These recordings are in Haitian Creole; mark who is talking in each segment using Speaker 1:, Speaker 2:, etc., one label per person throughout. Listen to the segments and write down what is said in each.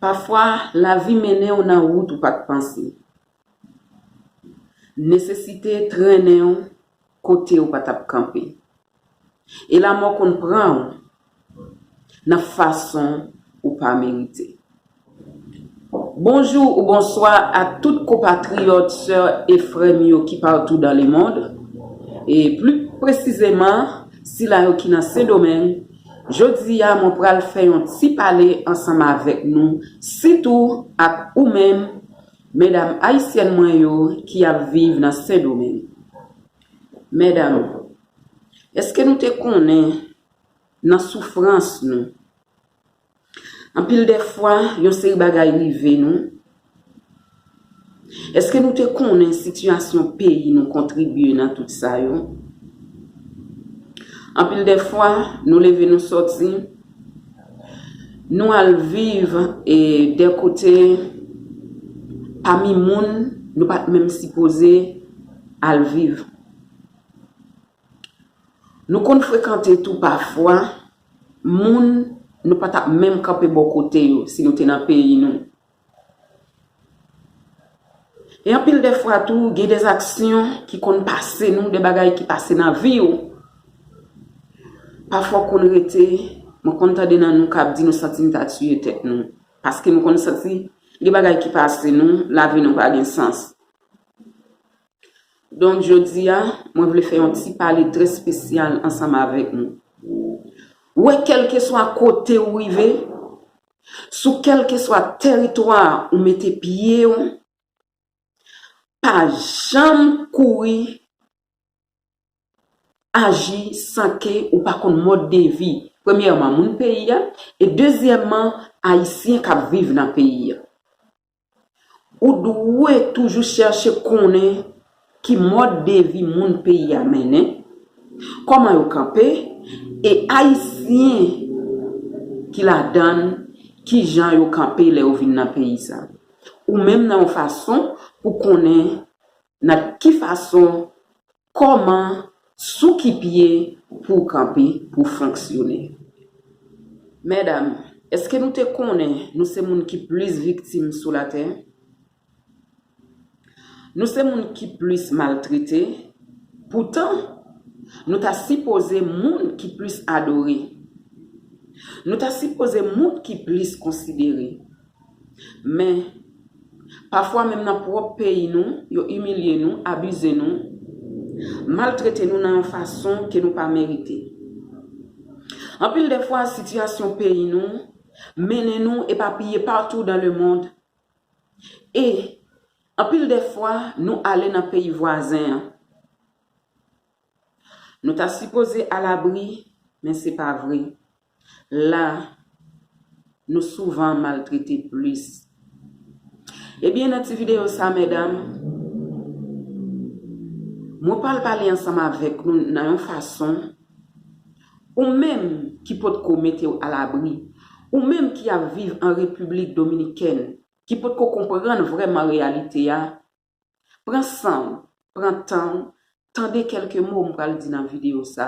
Speaker 1: Pafwa, lavi mennen w nan wout ou pa t panse. Nesesite trennen w kote ou pa t ap kanpe. E lamò konn pran w nan fason ou pa merite. Bonjou ou bonswa a tout konpatriyòt, sè e frè m yo ki patou dan le mond, e pli presizeman sila yo ki nan Sendomeng, jodi a mwen pral fè yon ti pale ansanm avèk nou, sitou ak ou menm medam ayisyèn mwen yo ki ap viv nan Sendomeng. Medam, èske nou te konnen nan soufrans nou. Anpil de fwa, yon seri bagay rive nou. Eske nou te konnen sitiyasyon peyi nou kontribye nan tout sa yo? Anpil de fwa, nou leve nou soti, nou al viv e de kote pami moun nou pat menm sipoze al viv. Nou konn frekante tou pafwa moun nou pa t ap menm kanpe bò kote yo si nou te nan peyi nou. E anpil dè fwa tou gen dè aksyon ki konn pase nou, dè bagay ki pase nan vi ou. Pafwa ou konn rete, mwen konn tande nan nou k ap di nou santi nou ta tiye tèt nou. Paske nou konn santi gen bagay ki pase nou, lavi nou pa gen sans. Donk jodi a, mwen vle fè yon ti pale trè spesyal ansanm avèk nou. Ou wè kèlkeswa kote ou rive, sou kèlkeswa tèritwa ou mete pye ou, pa janm kouri aji san ke ou pa konn mòd de vi, premyèman moun peyi a, e dezyèman Ayisyen k ap viv nan peyi a. Ou dwe toujou chèche konnen ki mòd de vi moun peyi a mennen, kòman yo kanpe, e Ayisyen ki ladann ki jan yo kanpe lè yo vin nan peyi sa. Ou menm nan yon fason pou konnen nan ki fason Kòman, sou ki pye pou w kanpe pou w fonksyone? Medam, èske nou te konnen nou se moun ki plis viktim sou latè? Nou se moun ki plis maltrete? Poutan, nou ta sipoze moun ki plis adore. Nou ta sipoze moun ki plis konsidere. Men, pafwa menm nan pwòp peyi nou, yo imilye nou, abize nou, maltrete nou nan yon fason ke nou pa merite. Anpil de fwa, sitiyasyon peyi nou mennen nou epapiye patou dan lemond e anpil de fwa nou ale nan peyi vwazen an. Nou ta sipoze alabri, men se pa vre. La, nou souvan maltrete plis. Ebyen nan ti videyo sa medam, mwen pral pale ansanm avèk nou nan yon fason, ou menm ki pot ko mete w alabri, ou menm ki ap viv an Repiblik Dominikèn, ki pot ko konprann vrèman reyalite a, Pran san w, pran tan w, tande kèlke mo m pral di nan videyo sa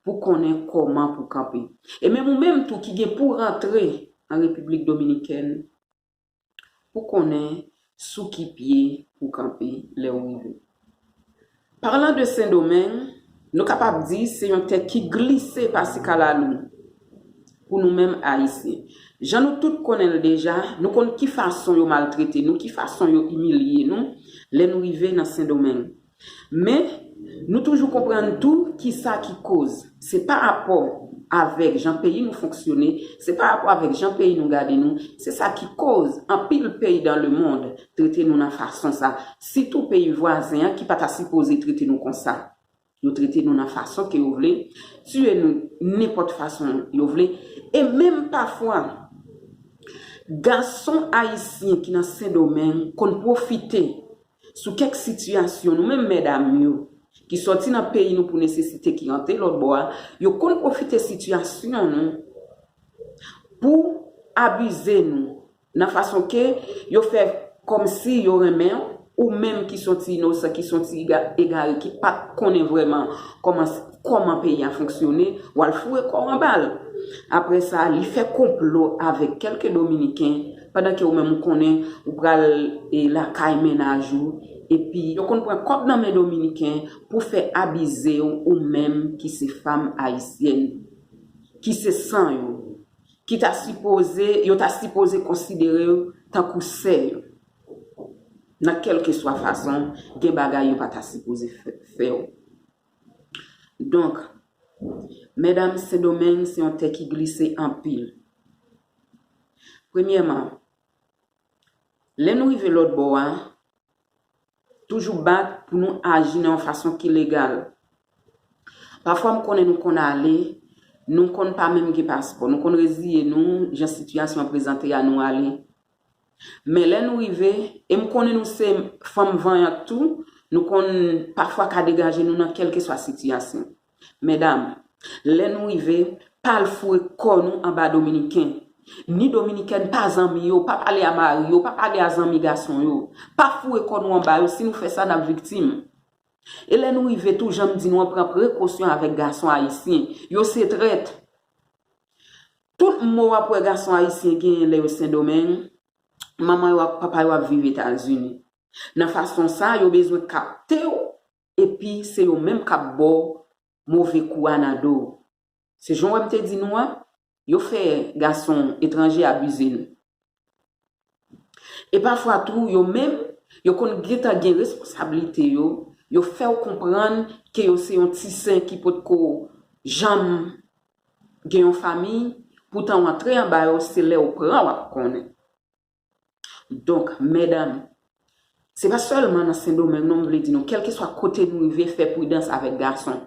Speaker 1: pou konnen kòman pou kanpe. E menm ou menm tou ki gen pou rantre an Repiblik Dominikèn, pou konnen sou ki pye pou kanpe lè ou rive. Parlan de Sendomeng, nou kapab di se yon tè ki glise pasi kalalou pou nou menm Ayisyen. Jan nou tout konnen l deja, nou konn ki fason yo maltrete nou, ki fason yo imilye nou lè nou rive nan Sendomeng. Men, nou toujou konprann tou ki sa ki koz. Se pa rapò avèk jan peyi nou fonksyone, se pa rapò avèk jan peyi nou gade nou, se sa ki koz anpil peyi dan lemond trete nou nan fason sa, sitou peyi vwazen an ki pa ta sipoze trete nou konsa. Yo trete nou nan fason ke yo vle, tiye nou nenpòt fason yo vle, e menm pafwa gason ayisyen ki nan Sendomeng konn pwofite sou kèk sitiyasyon nou menm mèdam yo ki sòti nan peyi nou pou nesesite ki rantre lòtbò a, yo konn pwofite sitiyasyon nou pou abize nou. Nan fason ke yo fè kòmsi yo renmen w, ou menm ki son ti inosan, ki son ti egare ki pa konnen vrèman kòman peyi a fonksyone, w al foure kò w anba l. Aprè sa, li fè konplo avèk kèlke dominiken, pandan ke ou menm ou konnen ou pral lakay mennaj ou, epi yo konn pran kòb nan men dominiken pou fè abize w ou menm ki se fam ayisyèn, ki se san yo. ki ta sipoze, yo ta sipoze konsidere yo tankou sè yo, nan kèlkeswa fason, gen bagay yo pa ta sipoze fè ou. Donk, medam Sendomeng se yon tè ki glise anpil. Premyèman, lè nou rive lòtbò a, toujou bat pou nou aji nan yon fason ki legal. Pafwa m konnen nou konn ale, nou konn pa menm gen paspò, nou konn reziye nou jan sitiyasyon an prezante a nou ale. Men lè nou rive, e m konnen nou se fanm vanyant tou, nou konn pafwa ka degaje nou nan kèlkeswa sitiyasyon. Medam, lè nou rive, pa al foure kò nou anba Dominiken. Ni Dominikèn pa zanmi yo, pa pale a mari yo, pa pale a zanmi gason yo. Pa foure kò nou anba yo, si nou fè sa n ap viktim. E lè nou rive tou, jan m di nou an, pran prekosyon avèk gason ayisyen. Yo se trèt. Tout mou w ap wè gason ayisyen genyen lè yo Sendomeng, manman yo ak papa yo ap viv Etazini. Nan fason sa, yo bezwen kapte w epi se yo menm kap baw move kou a nan dow se jan wè m te di nou an yo fè gason etranje abize nou e pafwa tou yo menm yo konn gentan gen responsablite yo yo fèw konprann ke yo se yon ti sen ki potko janm gen yon famiy poutan w antre anba yo se lèw pran wap konnen. Donk, medam, se pa sèlman nan Sendomeng non m vle di nou, kèlkeswa kote nou rive fè pridans avèk gason.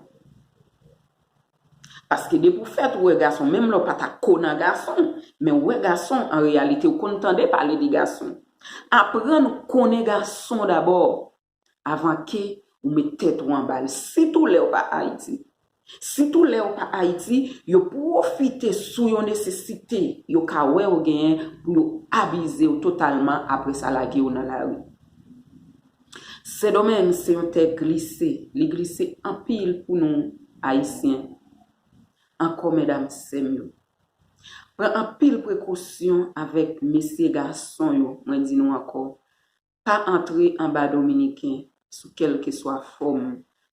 Speaker 1: Paske depi w fèt ou wè gason, menm lè w pa ta ko nan gason, men ou wè gason, an reyalite ou konn tande pale de gason. Aprann konnen gason dabò. avan ke ou met tèt ou anba l, sitou lè ou pa Ayiti. Sitou lè ou pa Ayiti, yo pwofite sou yon nesesite yo ka wè ou genyen pou yo abize ou totalman apre sa lage ou nan lari. Sendomeng se yon tè glise, li glise anpil pou nou Ayisyen. Ankò medam sè m yo, pran anpil prekosyon avèk mesye gason yo, mwen di nou ankò, pa antre anba dominiken sou kèlkeswa fòm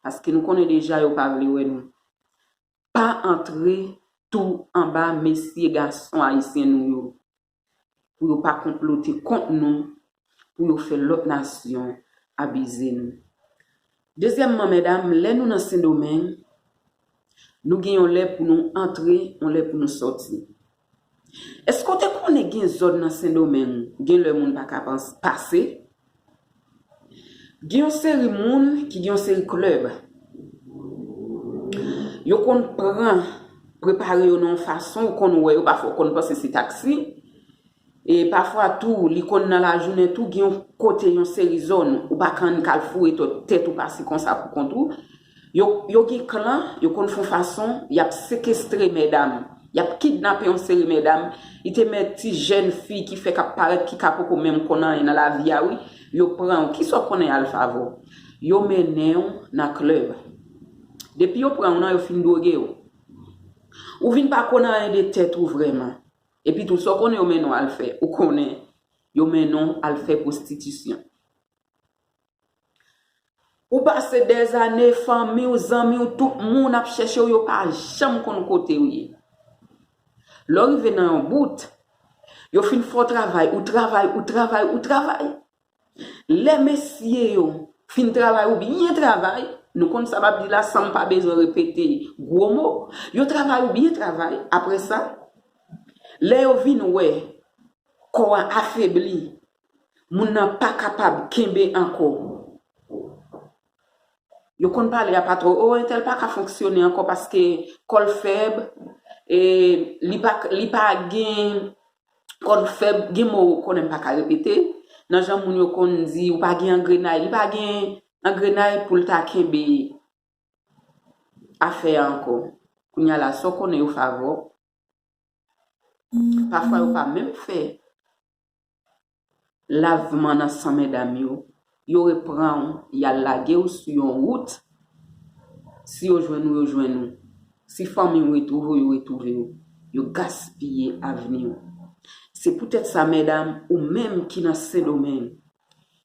Speaker 1: paske nou konnen deja yo pa vle wè nou pa antre tou anba mesye gason ayisyen nou yo pou yo pa konplote kont nou pou yo fè lòt nasyon abize nou Dezyèmman mèdam lè nou nan sendomeng nou gen yon lè pou nou antre yon lè pou nou sòti eske ou te konnen gen zòn nan sendomeng gen lè moun paka pase gen yon seri moun ki gen yon seri klèb yo konn pran prepare yo nan yon fason ou konn wè yo pafwa ou konn panse se taksi. E pafwa tou, li konn nan lajounen tou gen yon kote, yon seri zòn ou pa kann k al foure tèt ou pase konsa pou kont ou. Yo, yo gen klan, yo konn fon fason, y ap sekestre medam, y ap kidnape yon seri medam, li te mèt ti jèn fi ki fèk ap parèt ki ka poko menm konn anyen nan lavi a wi, yo pran ou. Kisa w konnen al fè avè w? Yo mennen ou nan klèb. Depi yo pran ou nan, yo fin dwoge ou. Ou vin pa konn anyen de tèt ou vrèman. Epi tou, sa w konnen yo mennen w al fè? Ou konnen yo mennen w al fè pwostitisyon. Ou pase dèzane, fanmi w, zanmi w, tout moun ap chèche w, yo pa janm konn kote w ye. Lè w rive nan yon bout, yo fin fè w travay, ou travay, ou travay, ou travay. Lè mesye yo fin travay ou byen travay, nou konn sa m ap di la san m pa bezwen repete gwo mo, yo travay ou byen travay, apre sa, lè yo vin wè kò a afebli, moun nan pa kapab kenbe ankò, yo konn pale a patwon, o entèl pa ka fonksyone ankò paske kò l fèb, li pa gen kòd fèb, gen mo ou konnen m pa ka repete, nan jan moun yo konn di ou pa gen angrenay, li pa gen angrenay pou l ta kenbe afè a ankò. Kounya la, sa w konnen yo favè w, pafwa yo pa menm fè Lavman nan san medam yo. Yo repran w, y al lage w sou yon wout. Si yo jwenn ou, yo jwenn ou. Si fanmi w retwouve w, yo retwouve w. Yo gaspiye avni w. Se poutèt sa medam, ou menm ki nan Sendomeng,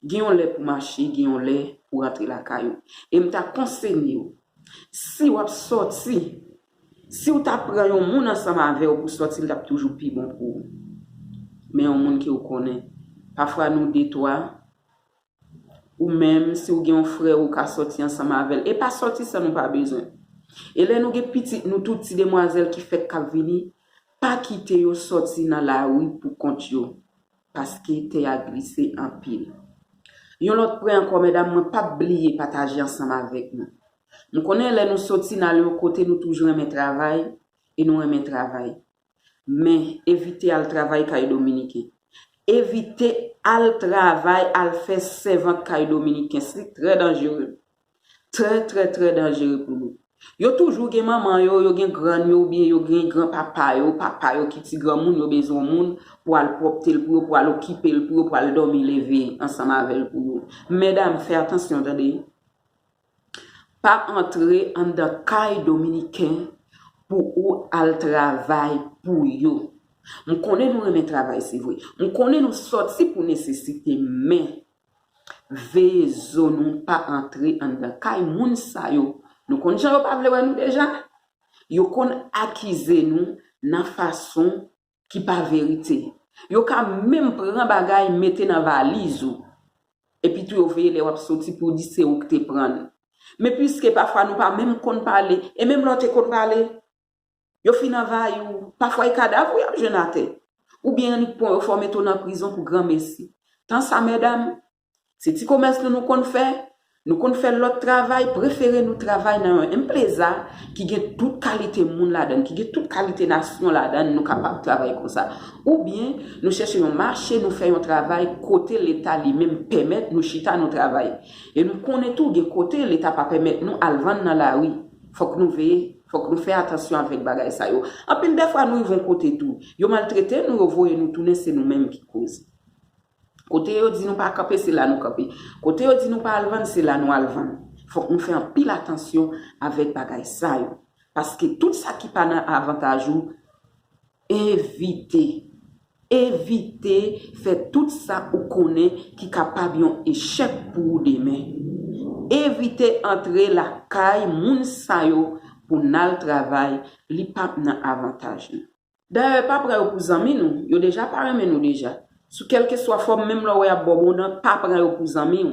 Speaker 1: gen yon lè pou mache, gen yon lè pou rantre lakay ou. E m ta konseye w, si w ap sòti Siw ta pran yon moun ansanm avew pou sòti li tap toujou pi bon pou ou men yon moun ke ou konnen pafwa nou de twa ou menm si ou gen yon frèw ou ka sòti ansanm avel e pa sòti san nou pa bezwen e lè nou gen pitit nou tou ti demwazèl ki fèk kap vini pa kite yo sòti nan lari pou kont yo paske tè ya glise anpil yon lòt pwen ankò medam mwen pap bliye pataje ansanm avek nou M konnen lè nou soti n ale yon kote nou toujou renmen travay e nou renmen travay. Men, evite al travay kay Dominiken. Evite al travay al fè sèvant kay Dominikens li trè danjere. Trè trè trè danjere pou nou. Yo toujou gen manman yo, yo gen grann yo oubyen yo gen gran papa yo, papa yo ki ti granmoun yo bezwen moun pou al pwòpte l pou yo, pou al okipe l pou yo, pou al dòmi leve ansanm avè l pou yo. Medam fè atansyon tande. Pa antre anndan kay dominiken pou ou al travay pou yo. M konnen nou renmen travay se vre. M konnen nou soti pou nesesite men veye zo nou pa antre anndan kay moun sa yo. Nou konn jan yo pa vle wè nou deja? Yo konn akize nou nan fason ki pa verite. Yo ka menm pran bagay mete nan valiz ou. Epi tou yo veye lè w ap soti pou di se ou ki te pran l. Men piske pafwa nou pa menm konn pale, e menm lè w te konn pale, yo fin anvayi w. Pafwa e kadav ou y ap jwenn atè. Oubyen annik pwen yo fò mete w nan prizon pou granmesi. Tan sa medam, Se ti komès nou nou konn fè, nou konn fè lòt travay, prefere nou travay nan yon empleza ki gen tout kalite moun ladan l, ki gen tout kalite nasyon ladan l, nou kapab travay konsa. Oubyen, nou chèche yon mache, nou fè yon travay kote Leta li menm pèmèt nou chita nou travay. E nou konnen tou gen kote Leta pa pèmèt nou al vann nan lari. Fòk nou veye, fòk nou fè atansyon avèk bagay sa yo. Anpil dèfwa nou rive yon kote tou, yo maltrete nou, yo voye nou tounen se nou menm ki koz. Kote yo di nou pa kanpe, se la nou kanpe. Kote yo di nou pa al vann, se la nou al vann. Fòk nou fè anpil atansyon avèk bagay sa yo. Paske tout sa ki pa nan avantaj ou, evite. Evite fè tout sa ou konnen ki kapab yon echèk pou ou demen. Evite antre lakay moun sa yo pou n al travay, li pap nan avantaj nou. Dayè pa pran yo pou zanmi nou, yo deja pa renmen nou deja. Sou kèlkeswa fòm menm lè w wè y ap ba w bon dan pa pran yo pou zanmi w.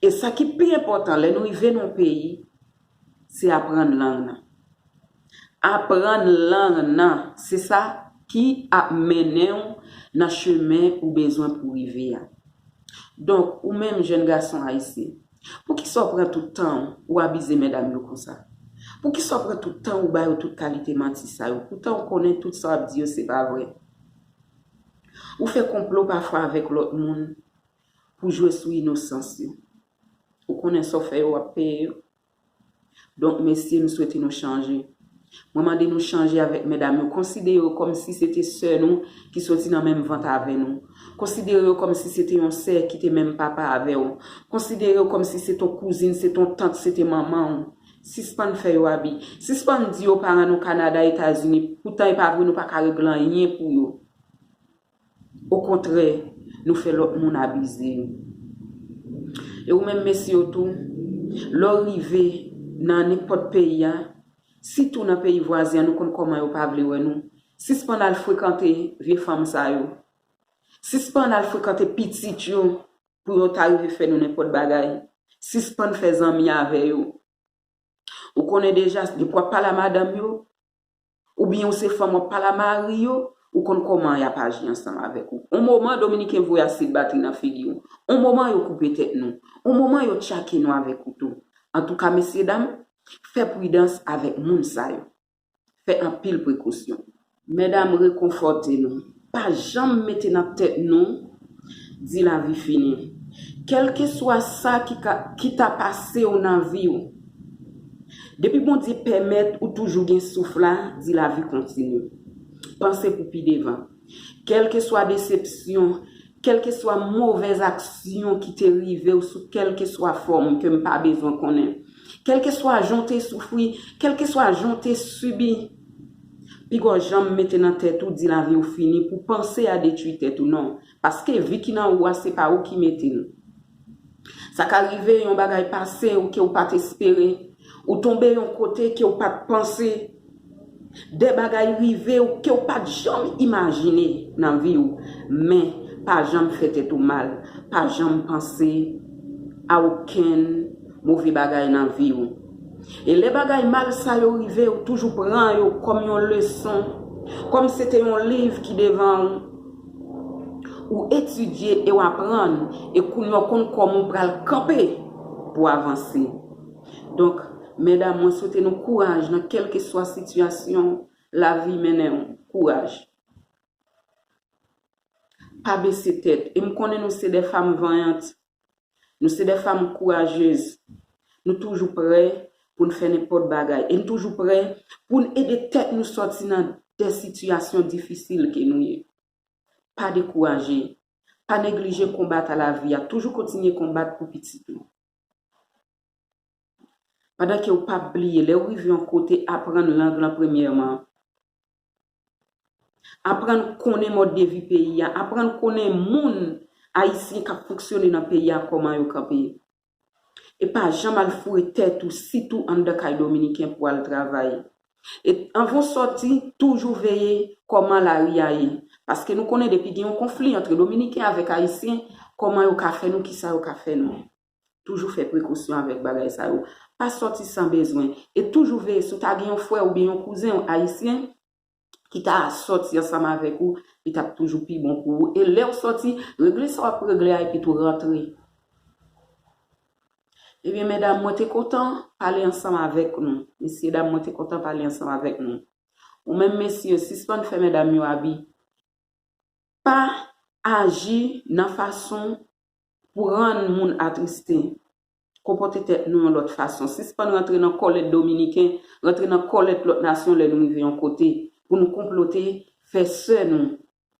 Speaker 1: E sa ki pi enpòtan lè nou rive nan yon peyi se aprann lang nan. Aprann lang nan se sa ki ap mennen w nan chemen ou bezwen pou w rive a. Donk ou menm jèn gason ayisyen. Poukisa w pran tout tan w, ou abize medam yo konsa? Poukisa w pran tout tan w, ou ba yo tout kalite manti sa yo, poutan w konnen tout sa w ap di yo se pa vrè? Ou fè konplo pafwa avèk lòt moun pou jwe sou inosans yo. Ou konnen sa w fè yo, w ap peye yo. Donk mesye m swete nou chanje. Mwen mande nou chanje avèk medam yo, konsidere yo kòm si se te sè nou ki soti nan menm vant avè nou. Konsidere yo kòm si se te yon sè ki te menm papa avè w. Konsidere yo kòm si se ton kouzin, se ton tant, se te manman w. Sispann fè yo abi. Sispann di yo paran nou Kanada, Etazini, poutan e pa vre nou pa ka regle anyen pou yo. Okontrè, nou fè lòt moun abize nou. E ou menm mesye yo tou, lè w rive nan nenpòt peyi a, sitou nan peyi vwazen an nou konn kòman yo pa vle wè nou, sispann al frekante vye fanm sa yo. Sispann al frekante pitit yo pou yo ta rive fè nou nenpòt bagay. Sispann fè zanmi avè yo. Ou konnen deja, depi w ap pale a madanm yo, Ou byen ou se fanm wap pale a mari yo, ou konn koman yap aji ansanm avek ou. On moman dominiken voye asid batri nan figi w. On moman yo koupe tet nou. On moman yo tchake nou avek kouto. Antouka mesye dam, fe pridans avek moun sa yo. Fe anpil prekosyon. Medam rekonfote nou. Pa janm mete nan tèt nou di lavi fini. Kèlkeswa sa ki ta pase w nan vi w, depi Bondye pèmèt ou toujou gen souf la, di lavi kontinye. Panse pou pi devan. Kèlkeswa desepsyon, kèlkeswa movèz aksyon ki te rive w sou kèlkeswa fòm ke m pa bezwen konnen, kèlkeswa jan w te soufri, kèlkeswa jan w te sibi, Pigaw janm mete nan tèt ou di laviw fini pou panse a detwi tèt ou non paske vi ki nan ou a se pa ou ki metel sa ka rive yon bagay pase ou ke ou pat espere ou tonbe yon kote kew pat panse de bagay rive ou kew pat janm imajine nan vi ou men pa janm fè tèt ou mal pa janm panse a okenn move bagay nan vi ou. E lè bagay mal sa yo rive ou toujou pran yo kòm yon leson, kòm se te yon liv ki devan ou, ou etidye e w aprann e kounye a w konn kòman w pral kanpe pou w avanse. Donk, medam mwen swete nou kouraj nan kèlkeswa sitiyasyon lavi mennen ou. Kouraj! Pa bese tèt e m konnen nou se de fanm vanyant Nou se de fanm kourajez. Nou toujou prè pou n fè nenpòt bagay e n toujou prè pou n ede tèt nou sòti nan de sitiyasyon difisil ke nou ye. Pa dekouraje, pa neglije konbat a lavi a, toujou kontinye konbat pou pitit ou. Pandan ke ou pap bliye, lè ou rive yon kote, aprann lang lan premyèman. Aprann konnen mòd de vi peyi a, aprann konnen moun ayisyen k ap fonksyone nan peyi a kòman yo kanpe. E pa janm al foure tèt ou sitou anndan kay dominiken pou al travay. E anvan w sòti, toujou veye kòman lari a ye. Paske nou konnen depi gen yon konfli antre dominiken avèk ayisyen, kòman yo ka fè nou, kisa yo ka fè nou. Toujou fè prekosyon avèk bagay sa yo. Pa sòti san bezwen. E toujou veye si w ta gen yon frè oubyen yon kouzen w ayisyen ki ta sòti ansanm avèk ou, li t ap toujou pi bon pou ou. E lè w sòti, regle sa w ap regle a epitou rantre. Ebyen medam mwen te kontan pale ansanm avèk nou. Mesyedam mwen te kontan pale ansanm avèk nou. Ou menm mesye, sispann fè medam yo abi. Pa aji nan fason pou rann moun atriste, konpòte tèt nou yon lòt fason, sispann rantre nan kòlèt Dominiken, rantre nan kòlèt lòt nasyon lè nou rive yon kote, pou nou konplote fè sè nou,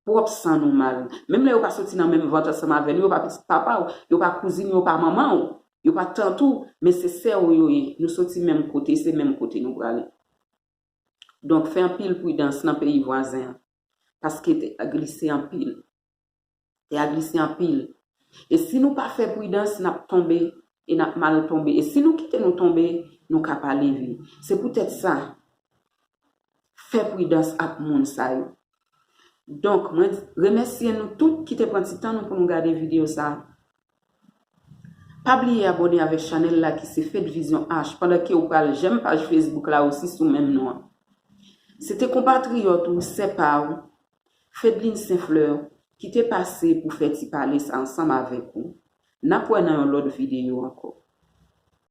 Speaker 1: pwòp san nou mal. Menm lè yo pa soti nan menm vant ansanm avè nou, yo pa pitit papa w, yo pa kouzin w, yo pa manman w, yo pa tant ou, men se sè w yo ye, nou soti menm kote, se menm kote nou prale. Donk fè anpil pridans nan peyi vwazen an, paske tè a glise anpil. Tè a glise anpil. E si nou pa fè pridans, n ap tonbe, e n ap mal tonbe. E si nou kite nou tonbe, nou ka pa leve. Se poutèt sa, fè pridans ak moun sa yo. Donk, mwen remèsye nou tout ki te pran ti tan nou pou nou gade videyo sa a. Pa bliye abone avek chanel la ki se fed vision H pandan ke ou pral jèm paj facebook la osi sou menm non an. Se te konpatriyòt ou, sè pa ou, Fedline Sainfleur, ki te pase pou fè ti pale sa ansanm avèk ou. Nap wè nan yon lòt videyo ankò.